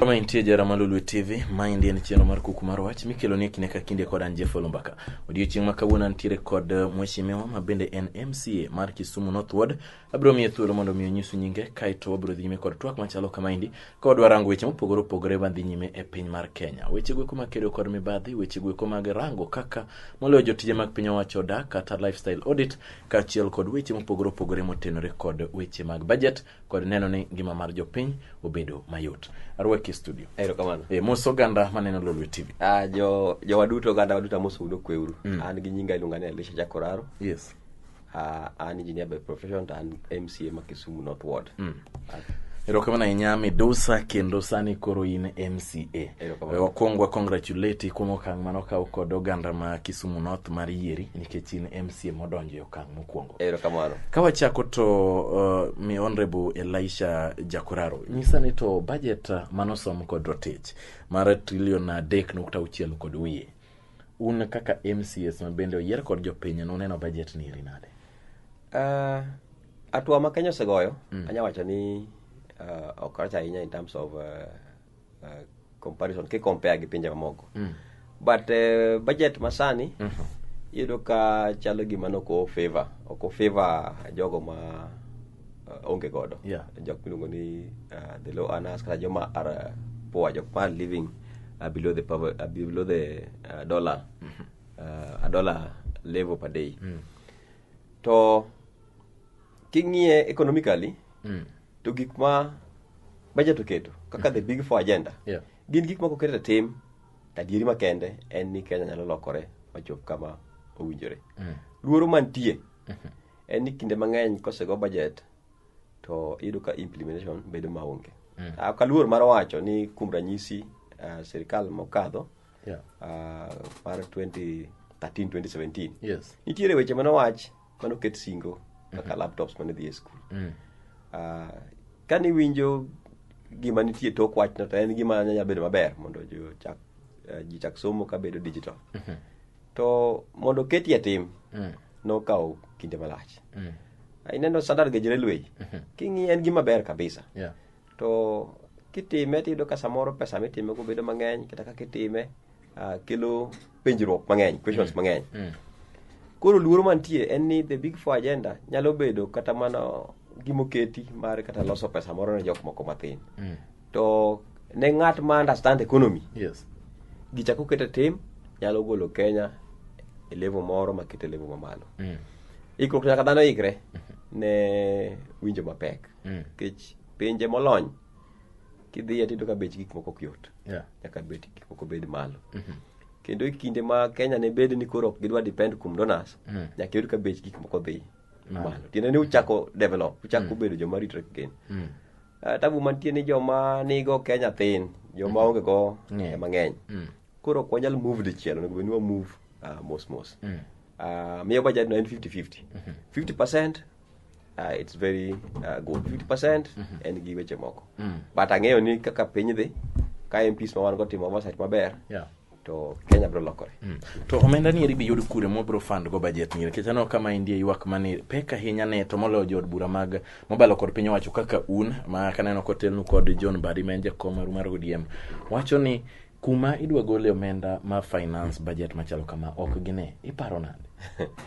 kama intie jara ma Lolwe TV, maendi en chenro mar kuku mar wach mikelo ni kinde ka kinde kod an Jeff Olumbaka. Odiechieng' ma kawuono antiere kod eh, mheshimiwa ma bende en MCA mar Kisumu North Ward, Abiro miye thuolo mondo mi onyisu nyinge kae to wabiro dhi nyime kod twak machalo kamaendi ka wadwa rango weche mopogore opogore madhi nyime e piny mar Kenya. Weche gweko mag kedo kod mibadhi, weche gweko mag rango kaka moloyo jotije mag piny owacho odak kata lifestyle audit kaachiel kod weche mopogore opogore motenore kod weche mag budget kod neno ni ngima mar jopiny obedo mayot. Arwaki e studio. Erokamano. E, mos oganda maneno Lolwe TV. Ah, jo jowa duto oganda waduto amosou ni okweuru. An gi nyinga iluonga ni Elisha Jakoraro. Yes. Uh, an engineer by profession to an MCA ma Kisumu North Ward. Mm. Uh, erokamano ahinya midusa kendo sani koro in mca wakwong wacongratulate kuom okang' mane okaw kod oganda ma kisumu north mar yieri nikech in mca modonjo e okang' mokwongo erokamano ka wachako to uh, mi honorable elisha jakoraro nyisa ni to budget manosom kod rotich mar trilion adek nukta auchiel kod wiye Un kaka MCS ma bende oyier kod jopiny nuneno bajet ni eri nade? Uh, atua ma Kenya osegoyo mm. anya wacho ni uh, ok rach ahinya in terms of uh, uh, comparison ki compare gi pinje mamoko mm. but uh, budget masani mm -hmm. iyudo ka chalo gima noko favor oko favor jogo ma uh, onge godo Yeah. jok miluongo ni uh, the low earners kata joma are uh, poor jok ma are living uh, below the power, uh, below the uh, dollar uh, a dollar level per day to king'iye economically Mm. to gik ma budget oketo kaka the big four agenda Yeah. gin gik ma koket e tim to adieri makende en ni kenya nyalo lokore machop kama owinjore Mm. luoro mantie en ni kinde mang'eny kosego budget to iyudo ka implementation bedo maonge mm. Ah, ok aluor mar wacho ni kuom ranyisi uh, sirikal mokadho yeah. uh, mar 2013 2017 yes. nitiere weche manowach manoket singo kaka mm -hmm. laptops mane dhi e skul mm. uh, ka niwinjo gima nitie tok wachno to en gima nyanya bedo maber mondo jochak uh, jichak somo ka bedo digital mm -hmm. to mondo keti e tim mm. nokawo kinde malach mm. ineno standard gauge railway mm-hmm. king'iye en gima ber kabisa yeah. to kitime tiyudo ka samoro pesa mitime go bedo mang'eny kata kaka itime uh, kelo penjruok mang'eny questions mm. mang'eny mm. koro luoro mantie en ni the big four agenda nyalo bedo kata mana gimoketi mar kata loso pesa moro ne jok moko mathin mm. to ne ng'at ma understand economy Yes. gichako keto tim nyalo golo kenya e levo moro makete levo mamalo Mm. ikruok nyaka dhano ikre ne winjo mapek Mm. nikech pinje molony kidhiye tiyudo ka bech gik moko ok yot Yeah. nyaka bech gik moko bed malo kendo e kinde ma kenya ne bed ni koro ok gidwa depend kuom donors Mm. nyaka yud ka bech gik moko dhi Malo. malo tiende ni uchako develop uchako bedo joma ritre gen Mm. Eh, tabu mantie ni joma nigo ke nyathin joma mm-hmm. onge go yeah. mang'eny mm. koro ok wanyal move dichiel onego bedni wamove uh, ah, mos mos mm. uh, miyo budget no en 50-50 mm-hmm. 50 percent uh, it's very uh, good 50 percent mm-hmm. en gi weche moko mm. but ang'eyo ni kaka piny dhi ka mps ma wan go timo oversight maber yeah. to Kenya bro lokore. Mm. To omenda ni eri biyud kure mo bro fund go budget ni nikech aneno kama indie ywak mani pek ahinya ne to moloyo jood bura mag mobalo kod piny owacho kaka un ma kaneno kotelnu kod John Badi ma en jakom maru mar ODM wacho ni kuma idwa gole omenda ma finance budget machalo kama ok gine iparo nade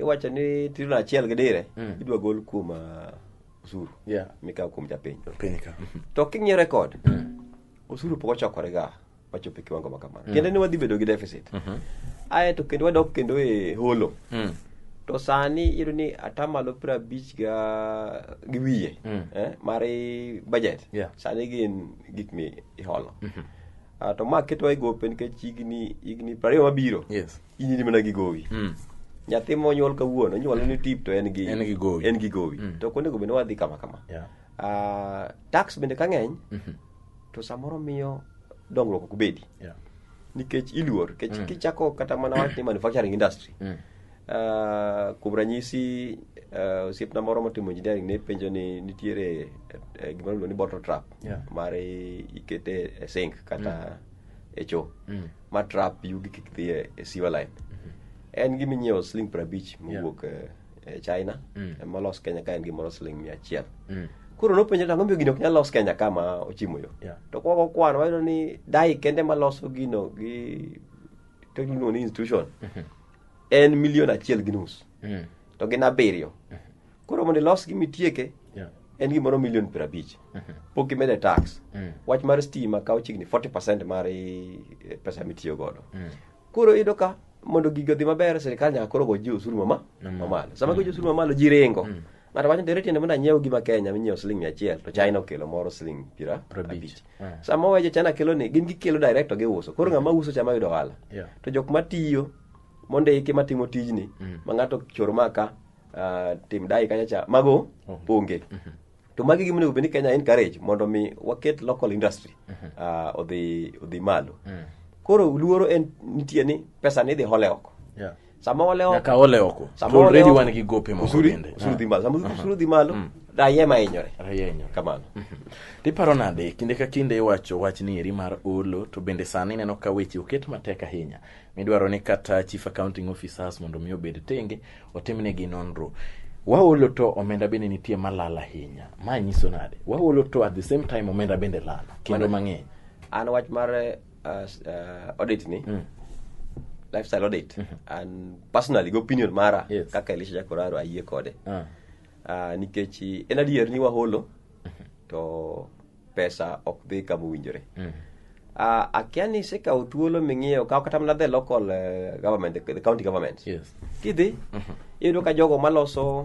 iwacho ni trilion achiel gi dire Mm. idwa gol kuom ah, osuru Yeah. mikawo kuom japiny Piny ka. to king'iyo rekod osuru pok ochokorega wachopo e kiwango ma kamano Mm. kendo ni wadhi bedo gi deficit ae to kendo wadok kendo e holo Mm. to sani iyudo ni atamalo piero abich ga gi wiye Mm. eh, mar i- budget Yeah. sani gin gik mi iholo Ah, to ma ketowa e gope nikech higni higni prariyo mabiro Yes. inyiri mana gi gowi mm. nyathi monyuol kawuono nyuol ni tip to en gi en gi gowi en gi gowi mm. to kuonde go bende wadhi kama kama yeah. uh, tax bende ka ng'eny mm -hmm. to samoro miyo dongruok ok bedi yeah. nikech iluor nikech mm. kichako kata mana wach ni manufacturing industry mm. uh, kuom ranyisi uh, osiepna moro motimo engineering ne penjo ni nitiere uh, gima iluongo ni bottle trap yeah. mare ikete e sink kata mm. e choo mm. ma trap yugi kik dhi e e sewer line en gima inyiewo siling piero abich mowuok e- e china Mm. ema olos kenya ka en gimoro siling mia achiel Mm. koro nopenjo ni ang'o miyo gini ok nyal los kenya ka ma ochimo yo Yeah. to kwago kwan wayudo ni dai kende maloso gino gi to iluongo ni institution en milion achiel gi nus Mm. to gin abiriyo koro mondo ilos gima itieke Yeah. en gimoro milion piero abich pok imede tax Mm. wach mar stima kawo chiegni 40 percent mar i- pesa mitiyo godo Mm. koro iyudo ka mondo gigo dhi maber sirikal nyaka koro goji osuru mama Mamalo. mamalo sama goji osuru mamalo ji ringo Mm. ng'ato wacho ntere tiende mondo anyiew gima kenya minyiewo siling mia achiel to china okelo moro siling piero Prabich. abich Ah. sama wawejo china kelo ni gin gikelo direct to giuso koro ng'ama uso chama yudo ohala Yeah. to jok matiyo mondiki matimo tijni Mm. ma ng'ato choro maka ah, tim dai kanyo cha mago onge to magi gima onego bed ni kenya encourage mondo mi waket local industry ah, odhi odhi malo koro luoro en nitie ni pesa ni idhi hole oko Yeah. sama ole oko nyaka ole oko Sama to ole already oko. wan gi gope moko usuru bende usuru dhi malo sama usuru dhi malo raia ema hinyore rayenyo kamano tiparo nade kinde ka kinde iwacho wach ni eri mar olo to bende sani ineno ka weche oket matek ahinya midwaro ni kata chief accounting officers mondo mi obed tenge otimnegi nonro waolo to omenda bende nitie malal ahinya ma nyiso nade waolo to at the same time omenda bende lal kendo mang'eny an wach mar uh, uh, audit ni mm. lifestyle audit mm -hmm. and personally go opinion mara yes. kaka elisha jakoraro ayie kode uh. Uh, nikech en adier ni waholo mm -hmm. to pesa ok dhi kama owinjore mm. uh, akia ni isekawo thuolo ming'iyo kaw kata mana the local uh, government the, the county government yes. kidhi mm -hmm. iyudo ka jogo maloso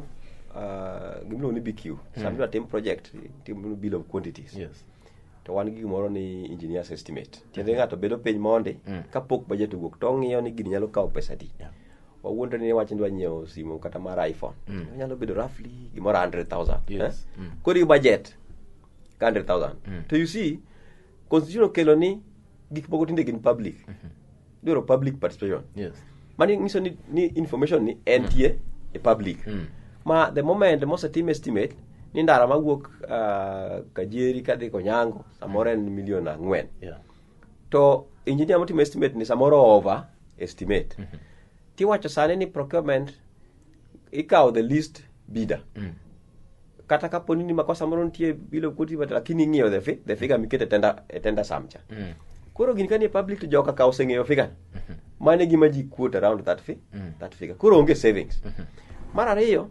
uh, gimiluongo ni bq mm. samtiwa tim project tim bill of quantities yes to wan gi gimoro ni engineers estimate tiende mm. ng'ato bedo piny mondi mm. kapok budget owuok to ong'iyo ni gini nyalo kawo pesa di yeah. wawuondre ni wach ni dwa nyiewo simu kata mar iphone mm. nyalo bedo roughly gimoro 100000 yes. eh? mm. kori budget ka 100000 mm. to you see constitution okelo ni gik moko tinde gin public mm -hmm. dwaro public participation yes. mani nyiso ni, ni information ni entie mm. e public mm. ma the moment mosetim estimate ni ndara mawuok uh, kajeri kadhi konyango samoro en mm. milion ang'wen yeah. to engineer motimo estimate ni samoro over estimate mm -hmm. tiwacho sani ni procurement ikawo the least bidder mm. kata kapo ni makosa moro nitie bilo koti lakini ing'iyo the, fi, the figure mm. mikete tenda, e tenda samcha mm. koro gini kani e public to joka ka oseng'eyo figure mm -hmm. mane gima ji quote around that, fi, mm. that figure koro onge savings mm -hmm. mar ariyo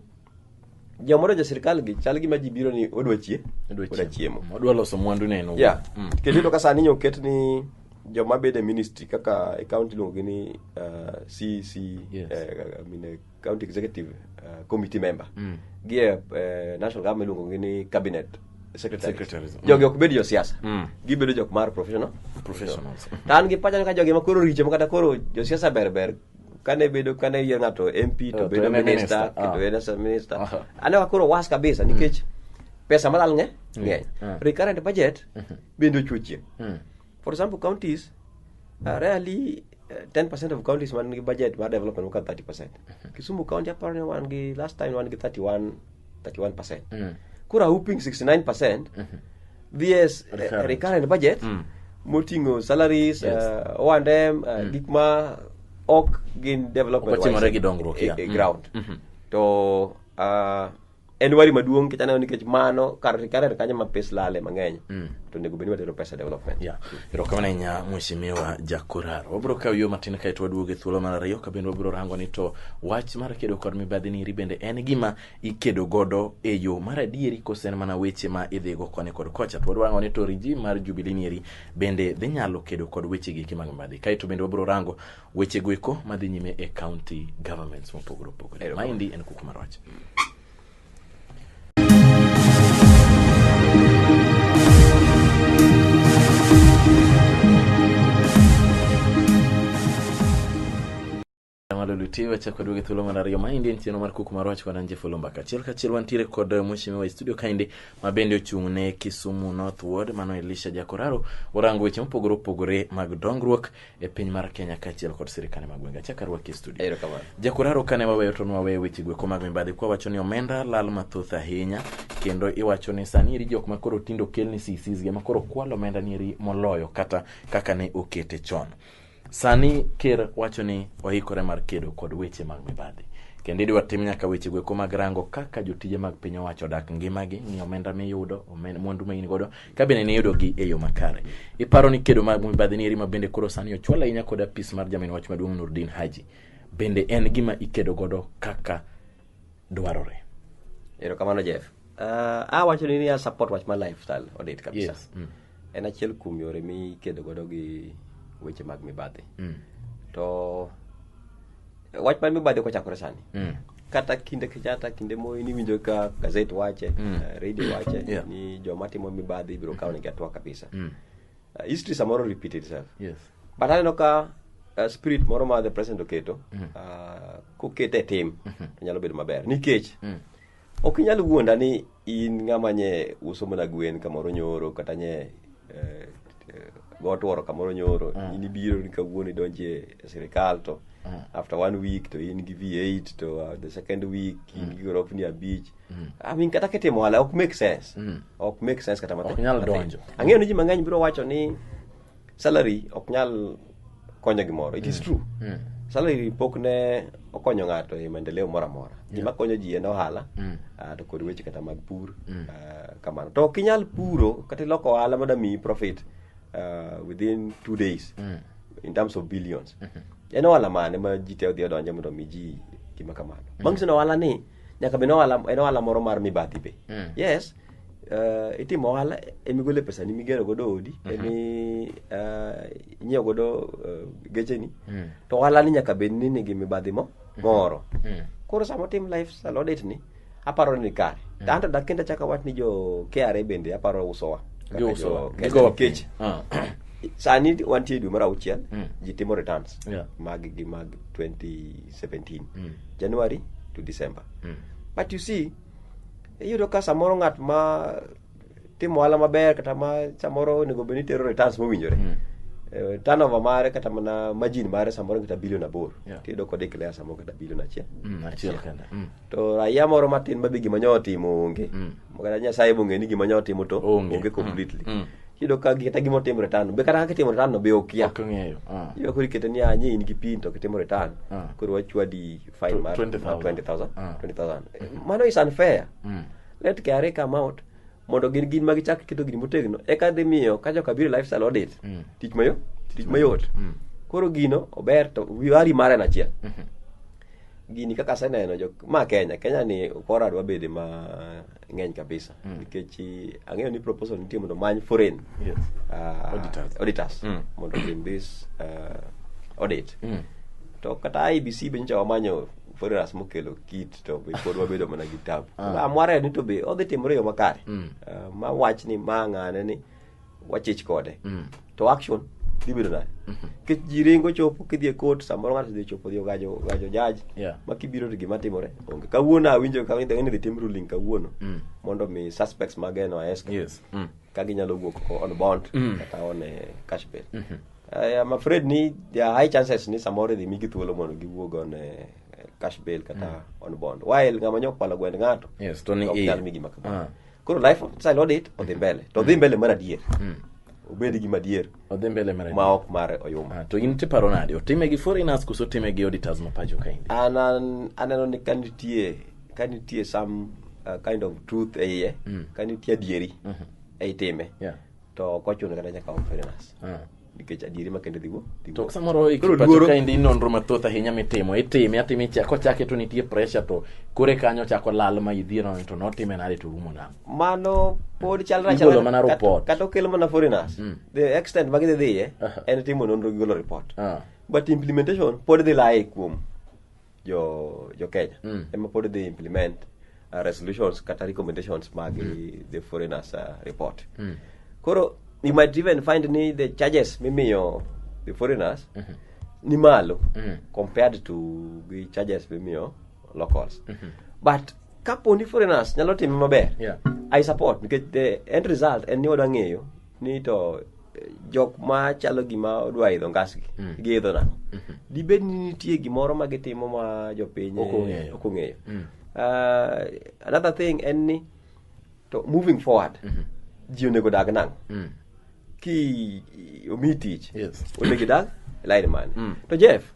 Jamoro ja sirkal gi chal gima ji biro ni odwa chie, Odwa odwa chiemo. Odwa loso mwandu ne en owuon. Yeah. Mm. Kendo iyudo ka sani nyo oket ni joma bede ministry kaka e county iluongo gi ni uh, CC Yes. eh, I mean, eh, county executive uh, committee member Mm. gi e eh, national government iluongo gi ni cabinet secretary. Secretaries, mm. Jogi ok bed jo siasa. Mm. Gibedo jok mar professional. Professionals. To an gi pacha ni ka jogi ma koro richo ma kata koro jo siasa ber ber kane bedo kane yier ng'ato MP Eh, to to bedo en e minister minister, kendo ah. en as a minister Aha. ane wa koro was kabisa nikech pesa malal ng'e ng'eny Ah. recurrent budget bende ochuchie Mm. for example counties uh, rarely uh, 10% of counties man gi budget mar development wuka 30% kisumu county aparo ni wan gi last time wan gi 31 31%. Mm. Koro a whooping 69% VS uh, Recurrent. recurrent budget Mm. moting'o salaries, Yes. uh, O&M, uh, gik ma ok gin development Ok otimore wise, gi dongruok, e- yeah. e Mm. ground. Mhm. To uh, en wari maduong' nikech aneno nikech mano kar recurrent kanyo ma pes lale mang'eny Mm. to onego bed ni watero pesa development. Yeah. Erokamano ahinya Mheshimiwa Jakoraro. Wabiro kawo yo matin kae to waduogo e thuolo mar ariyo ka bende wabiro rango ni to wach mar kedo kod mibadhi niri bende en gima ikedo godo e yo mar adieri kose en mana weche ma idhigo koni kod kocha. To warango ni to regime mar Jubilee niri bende dhi nyalo kedo kod weche giki mag mibadhi. Kae to bende wabiro rango weche goeko madhi nyime e county governments mopogore opogore. Erokamano. Maendi en kuku mar wach. Mwaluti wacha kod wege thuolo mar ariyo maendi en chenro mar kuku mar wach wananje fulu mbaka achiel kachiel wantiere kod eh, mheshimiwa e studio kaendi ma bende ochung' ne Kisumu North Ward mano Elisha Jakoraro orango weche mopogore opogore mag dongruok e piny mar Kenya kaachiel kod sirikande mag gwenge. Achak arwaki e studio. Erokamano. Jakuraro kane waweyo to nwaweyo weche gweko mag mibadhi kwa wacho ni omenda lal mathoth ahinya kendo iwacho ni sani eri jok makoro tindo kelni CCs gi makoro kwalo omenda ni eri moloyo kata kaka ne okete chon. Sani ker wacho ni oikore mar kedo kod weche mag mibadhi kendo idwa tim nyaka weche gweko mag rango kaka jotije mag piny owacho odak ngimagi, ng'i omenda miyudo, omen- mwandu ma in godo ka bende ne yudogi e yo makare. Iparo ni kedo mag mibadhi ni eri ma bende koro sani ochwal ahinya kod apis mar jamin wach maduong' Nurdin Haji bende en gima ikedo godo kaka dwarore. Erokamano Jeff. Uh, ah, awacho ni ni a support wach ma lifestyle odit kabisa. Yes. Mm. En achiel kuom yore mikedo godo gi weche mag mibadhi. Mm. To wach man mibadhi kochakore sani Mm. kata kinde kenyatta kinde moyi niwinjo ka gazet wache Mm. eh, radio wache Yeah. ni joma timo mibadhi ibiro kawo negi atwa kabisa Mm. Eh, history samoro repeat itself Yes. but aneno ka uh, spirit moro ma the president oketo uh, kokete e tim to nyalo bedo maber nikech Mm. Ok inyal wuonda ni in ng'ama nye uso mana gwen kamoro nyoro kata nye eh, eh, gotworo kamoro nyoro mm. in ibiro ni kawuono idonje e sirikal to mm. after one week to in gi v8 to uh, the second week in mm. gi gorofni abich mm. i mean kata kitimo ohala ok make sense mm. ok make sense kata matin ang'eyo ni ji mang'eny biro wacho ni salary ok nyal konyo gimoro it is mm. true mm. salary pok ne okonyo ng'ato e maendeleo moro amora gima konyo ji en ohala mm. ah, to kod weche kata mag pur ah, kamano to ok inyal puro kata iloko ohala mondo miyi profit ah, within two days in terms of billions mm-hmm. en ohala mane ma ji te odhi odonje mondo mi ji gima kamano bang' sino ohala ni nyaka bed en ohala moro mar mibadhi be yes uh, itimo ohala emigole pesa ni migero godo odi mm -hmm. emi uh, inyiewo godo uh, gecheni mm. to ohala ni nyaka bed ni nigi mibadhi mo mhm. moro mm -hmm. koro sama otim life salodit ni aparo ni kare mm. anto dak kendo achaka wach ni jo kra bende aparo usowa kech ah. sani wantie dwe mar auchiel mm. ji timo returns yeah. mag gi mag 2017 mm. january to december mm. but you see Iyudo ka samoro ng'at ma timo ohala maber kata ma samoro onego bed ni tero returns mowinjore. Mm. Eh, turnover mare kata mana margin mare samoro kata bilion aboro. Yeah. Tiyudo kod declare samoro kata bilion achiel. Mm, achiel kende. Mm. To raia moro matin ma be gima nyo otimo onge. Mm. Kata Nyasaye be ong'e ni gima nyo otimo to Onge. onge completely. Mm. Mm. Iyudo ka gi- kata gima otimo return. Be kata kaka itimo return no be okia. Ok ong'eyo. Ah. Iyudo koro ikete ni anyi in gi pin to kitimo return. Ah. Koro wachwadi fine Tw- man, 20,000. 20,000 Ah. 20,000 Eh, mano is unfair Mm. let KRA come out mondo gin gin ma gichak keto gini motegno eka dhi miyo ka joka biro e lifestyle audit Mm. tich mayo tich mayot Mm. koro gino ober to wari mare na achiel Mhm. gini kaka aseneno jok ma Kenya Kenya ni kora dwa bede ma ng'eny kabisa mm. nikech eh, ang'eyo ni proposal nitie mondo many foreign yes. uh, auditors, auditors mm. mondo in this uh, audit mm. to kata IBC be nyocha wamanyo foreigners mokelo kit to be pod wabedo mana gi tabu ah. amware ni to be odhi timore yo makare mm. uh, ma wach ni ma ng'ane ni wachich kode Mm. to action dhi bedo nade nikech ji ringo chopo kidhi e court samoro ng'ato dhi chopo dhi ogajo gajo jaji Yeah. ma kibiro to gima timore onge kawuono awinjo ka ni dhi tim ruling kawuono Mm. mondo mi suspects mageno aesko Yes. Mm. ka ginyalo wuok ko on bond Mm. kata on eh, cash bail I am afraid ni there are high chances ni samoro idhi migi thuolo mondo giwuog on eh, cash bail kata on bond while ng'ama nyokwalo gwend ng'ato Yes, to ni ok iye. nyal migi makama Ah. koro life style audit odhi mbele to odhi mbele mar adier obed gi madier odhi mbele mar ma ok mare oyuma Ah, to in tiparo nade otime gi foreigners koso otime gi auditors ma pacho kaendi an an- aneno ni ka nitie ka nitie some uh, kind of truth e iye ka nitie adieri e itime Yeah. to ok ochuno kata nyaka om foreigners Ah. nikech adieri ma kende dhigo dhigo. to samoro Koro ikipacho luoro- ka endi nonro mathoth ahinya mitimo itime atime icha- kochake to nitie pressure to kore kanyo chako lal ma idhiero ni to notime nade to rumo nang' mano pod chalra Igolo chalra- mana kat- report. kata okel mana foreigners Mm. the extent ma gidhi dhiye Aha. en timo nonro gi golo report Ah. but implementation pod dhi laye kuom jo jo Kenya Mm. ema pod dhi implement uh, resolutions kata recommendations mag the foreigners uh, report Mm. koro you might even find ni the charges mimiyo the foreigners ni malo Mm. compared to gi charges mimiyo locals but kapo ni foreigners nyalo time maber Yeah. i support nikech the end result en ni wadwa ng'eyo ni to eh, jok ma chalo gima odwa idho ngasgi mm. giidho nang'o mm-hmm. dibed ni nitie gimoro ma gitimo ma jopiny ok ong'eyo mm. ah, another thing en ni to moving forward mm-hmm. ji onego dag nang'o mm. ki omi tich onego idag e lain mane mm. to jeff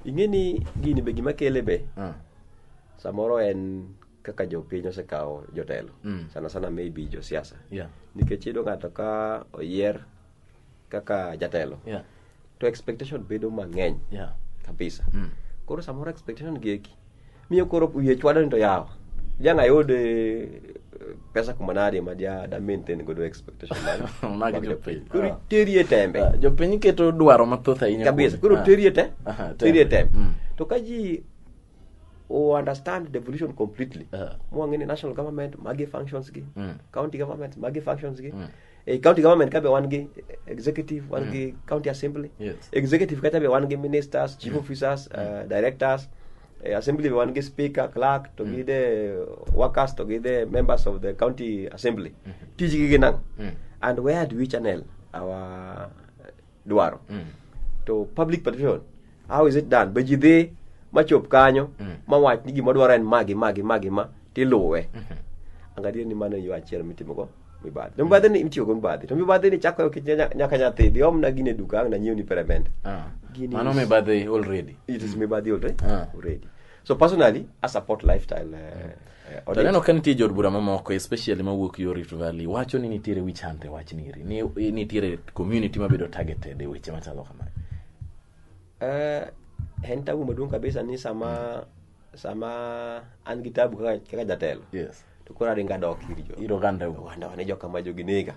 ing'e ni gini be gima kele be ah. samoro en kaka jopiny osekawo jotelo Mm. sana sana maybe josiasa Yeah. nikech iyudo ng'ato ka oyier kaka jatelo Yeah. to expectation bedo mang'eny Yeah. kabisa Mm. koro samoro expectation gieki miyo koro wiye chwado ni to yawa jang ayud eh, pesa kumanade ma ja da maintain godo expectation mag- Mag mag jopiny. jopiny. koro Ah. terie tembe Ah, jopiny keto dwaro mathoth ahinya kabisa kuome. koro Ah. terie te Aha, terie tembe Mm. to ka ji u understand devolution completely Yeah. mwang'e ni national government magi functions gi Mm. county government magi functions gi eh, county government kabe wan gi executive wan gi county assembly Yes. executive kacha be wan gi ministers chief officers uh, directors eh, assembly be wan gi speaker clerk to gi the workers to gi the members of the county assembly tijgi gin ang' and where do we channel our dwaro mm. to public participation how is it done be ji dhi machop kanyo mm. mawach ni gima dwaro en magi magi magi ma tiluwe mm -hmm. angalie ni mano yo achiel mitimogo mibadhi to mibadhi ni itiyogo mibadhi to mibadhi ni chako nyaka nyathi dhi omna gine duka ang nanyiewni peremende ah. mano mibadhi already it is mibadhi already, ah. already. so personally i support lifestyle uh, mm. Eh, to aneno ka nitie jood bura mamoko especially mawuok yo rift valley wacho ni nitiere wich hunt e wach niri ni eh, nitiere community mabedo targeted e weche machalo kamae Eh, en tabu maduong' kabisa ni sama sama an gi tabu kaka kaka jatelo yes to koro aringo adok ir jo ir oganda u oganda wane joka ma jogi nega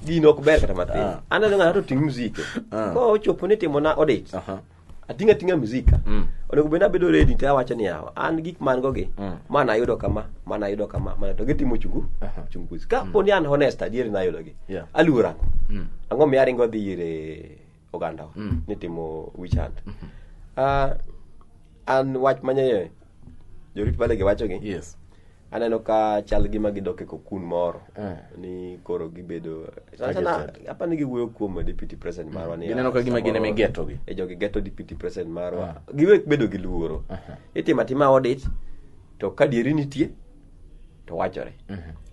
gino ok ber kata matin Ah. aneno ng'ato to ting' mzike Ah. ko ochopo ni timona odich Aha. atinga tinga mzika mm. onego benda bedo ready to awacho ni yawa an gik man go gi mm. mana ayudo kama mana ayudo kama mana to gitimo chungu uh -huh. chungu ka mm. poni an honest adier na ayudo gi yeah. aluora mm. ango mi aringo dhi ire oganda mm. ni timo wichand mm -hmm. uh, an wach manye jorit bale gi wacho gi yes aneno ka chal gi ma gidok e kokun moro Eh. ni koro gibedo Sana sana, Targeted. hapa ni giwuoyo kuom deputy president marwa ni Gineno ka gima gin ema igetogi. e jogi geto deputy president marwa giwek bedo gi luoro itimo atima audit to ka dieri nitie to wachore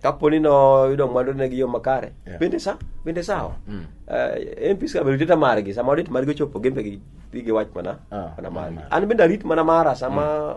kapo ni noyudo mwandu ne gi yo makare Yeah. bende sa bende sawa Mm. Eh, MPs ka bedo margi sama audit margi ochopo gimbe gi gi wach mana Ah, mana margi mana an bende arit mana mara sama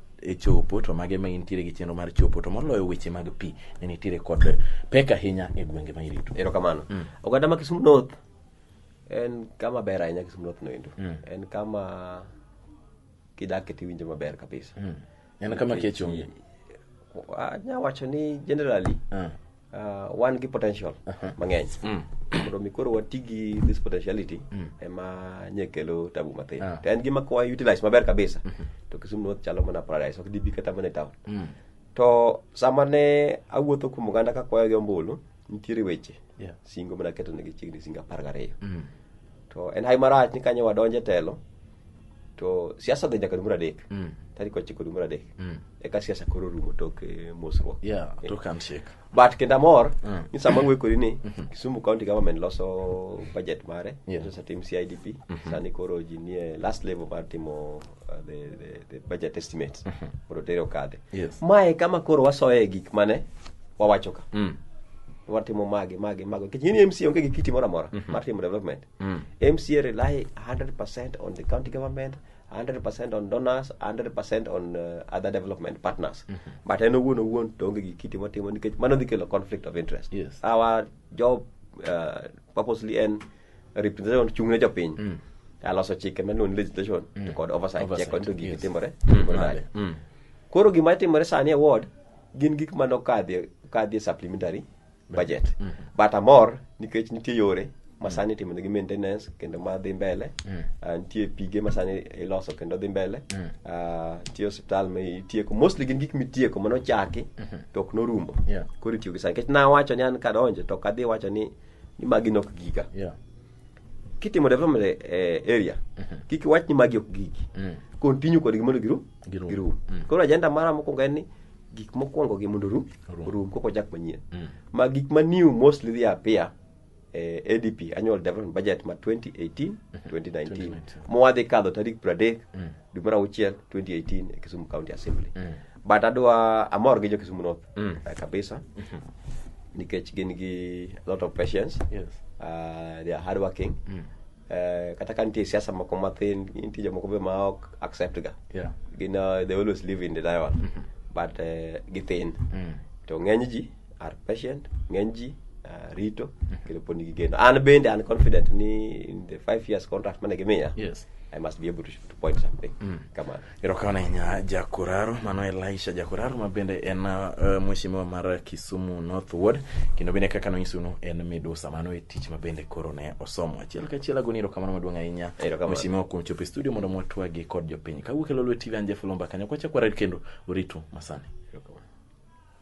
e chopo to mage ma intiere gi chenro mar chopo to moloyo weche mag pi ne nitiere kod pek ahinya e gwenge ma irito erokamano mm. oganda ma kisumu north en kama ber ahinya kisumu north noendo mm. en kama kidake tiwinjo maber kabisa mm. en kama kech onge nyawacho ni generally uh. Uh, wan gi potential uh -huh. mang'eny mm. mondo mi koro wati gi this potentiality mm. ema nye kelo tabu mathin uh ah. -huh. to en gima kwa utilize maber kabisa mm -hmm. to kisumu north chalo mana paradise ok dibi kata mana e town mm. to sama ne awuotho kuom oganda ka kwayo gi ombulu nitiere weche yeah. singo mana keto negi chiegni singo apar gariyo mm. to en hai marach ni kanyo wadonje telo to siasa dhi nyaka dwe mar adek Mm. tarik ochiko dwe mar adek Mm. eka siasa koro rumo tok eh, mosruok Yeah, Eh. tok handshake. but kendo amor Mm. ni sama wekori ni kisumu county government loso budget mare Yeah. loso tim cidp sani koro ji nie last level mar timo uh, the, the, the budget estimates mondo tere okadhe Yes. mae kama koro wasoye gik mane wawacho ka Mm. watimo mage mage mage nikech in mc onge gi kiti moro amora mar timo development Mm. MCA rely 100% on the county government, 100% on donors, 100% on uh, other development partners. Mm -hmm. But en owuon owuon to onge gi kiti motimo nikech mano dhi kelo conflict of interest. Yes. Our job uh, purposely en representation chung'ne jopiny. Mm. Aloso chike mano ni legislation mm. to kod oversight, oversight check onto gik yes. timore. Mm. Mm. Mm. Koro gima timore sani e ward gin gik manokadhi kadhi e supplementary budget but amor nikech nitie yore masani itimo negi maintenance kendo ma dhi mbele Ah, nitie pige masani iloso kendo dhi mbele Ah, nitie osiptal ma itieko mostly gin gik mitieko mano chaki to ok norumo Yeah. koro itiyo gi sani nikech nawacho ni an kadonjo to ok adhi wacho ni ni magi nok giga Yeah. kitimo development e e area kik iwach ni magi ok gigi Mm. continue kodgi mondo giru Girum. girum Mm. koro ajenda mara mokwongo en ni gik mokwongo gi mondo rum Rum. rum koko chak manyien Mm. ma gik ma new mostly dhi appear eh, ADP annual development budget ma 2018 2019 2019. mwadhi kadho tarik 30 Mm. dwe mar auchiel 2018 e Kisumu County Assembly. Mm. But adwa amor gi jo Kisumu North Mm. eh, kabisa nikech gin gi a lot of patience. Yes. Uh, they are hardworking. Mm. Eh, kata ka nitie siasa moko mathin nitie jomoko be ma ok accept ga Yeah. gin uh, they always live in denial but uh, githin Mm. to ng'eny ji are patient ng'eny ji uh, rito kendo pod nigi geno an bende an confident ni in the five years contract mane gimiya Yes. i must be able to, to point something kamano erokamano ahinya jakuraro mano elisha jakuraro ma bende en uh, mweshimiwa mar kisumu north ward kendo bende kaka nonyisunu en midusa mano e tich ma bende koro ne osomo achiel kachiel agoni erokamano maduong' ahinya Erokamano. mweshimiwa kuom chopo e studio mondo mwatwagi kod jopiny kawuok e lolwe tv anje fulomba kanyo kwachak wared kendo uritu masani